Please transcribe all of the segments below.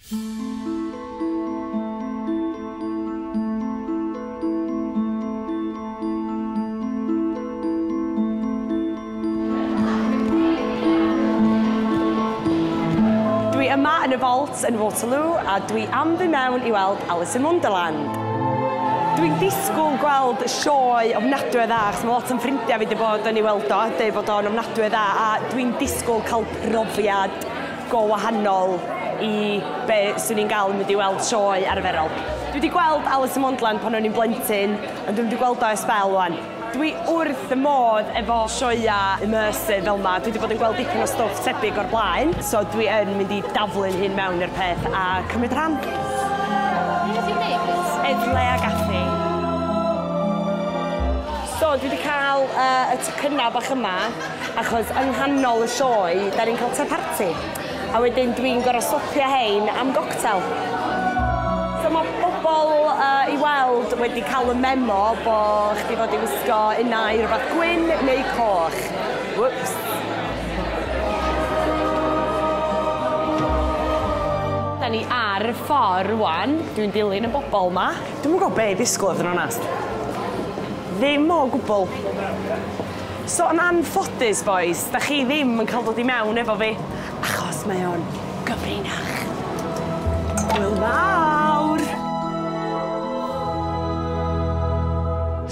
Dwi yma yn y Vault yn Waterloo a dwi am fy mewn i weld Alice in Wonderland. Dwi'n ddisgwyl gweld sioe ofnadwy o dda, achos mae lot o'n ffrindiau fi wedi bod yn ei weld o a deud bod o'n ofnadwy o dda, a dwi'n disgwyl cael profiad go wahanol i be 'swn i'n galw mynd i weld sioe arferol. Dwi 'di gweld Alice in Wonderland pan o'n i'n blentyn, ond dwi'm 'di gweld o ers sbel 'wan. Dwi wrth fy modd efo sioeau immersive fel 'ma, dwi 'di bod yn gweld dipyn o stwff tebyg o'r blaen, so dwi yn mynd i daflu'n hun mewn i'r peth a cymryd rhan. Be ti'n neud plîs? Edle a Gafi. So dwi 'di ca'l yy y tocynna bach yma. Achos yng nghanol y sioe 'da ni'n cael te parti, a wedyn dwi'n gorfod stopio hein am goctel. So mae pobl i weld wedi cael y memo bo' chdi fod i wisgo unai rywbeth gwyn neu coch. Wwps. Da ni ar y ffor rwan, dwi'n dilyn y bobl 'ma. Dwi'm yn gwbod be' i ddisgwl i fod yn onast. Ddim o gwbwl. So yn anffodus bois, da chi ddim yn cael dod i mewn efo fi, achos mae o'n gyfrinach. Hwyl fawr!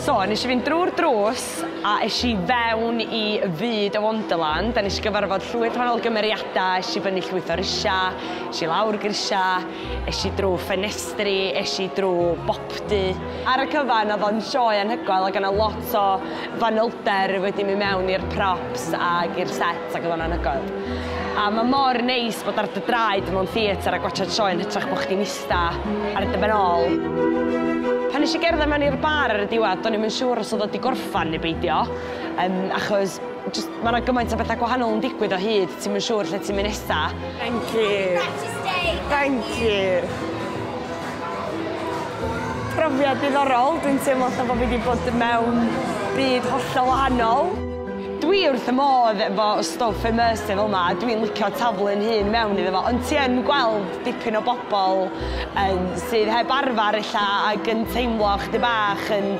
So, nes i fynd drwy'r drws a es i fewn i fyd y Wonderland a nes i gyfarfod llwyth o wahanol gymeriadau, es i fyny llwyth o risiau, es i lawr grisiau, es i drwy ffenestri, es i drwy bobl, Pdu. Ar y cyfan oedd o'n sioe anhygoel ac o' 'na lot o fanylder wedi mynd mewn i'r props ag i'r set ac oedd o'n anhygoel. A ma' mor neis bod ar dy draed mewn theatr a gwatsiad sioe yn hytrach bo' chdi'n ista ar dy ben ôl. Pan nes i gerdded mewn i'r bar ar y diwedd do'n i'm yn siŵr os oedd o 'di gorffan neu beidio yym achos jyst ma' 'na gymaint o betha gwahanol yn digwydd o hyd ti'm yn siŵr lle ti'n mynd nesa. Thank you. Thank you. Profiad diddorol, dwi'n teimlo fatha bo' fi 'di bod mewn byd hollol wahanol. Dwi wrth fy modd efo y stwff immersive fel 'ma, dwi'n licio taflu'n hun mewn iddo fo, ond ti yn gweld dipyn o bobl yym sydd heb arfar ella ag yn teimlo chydig bach yn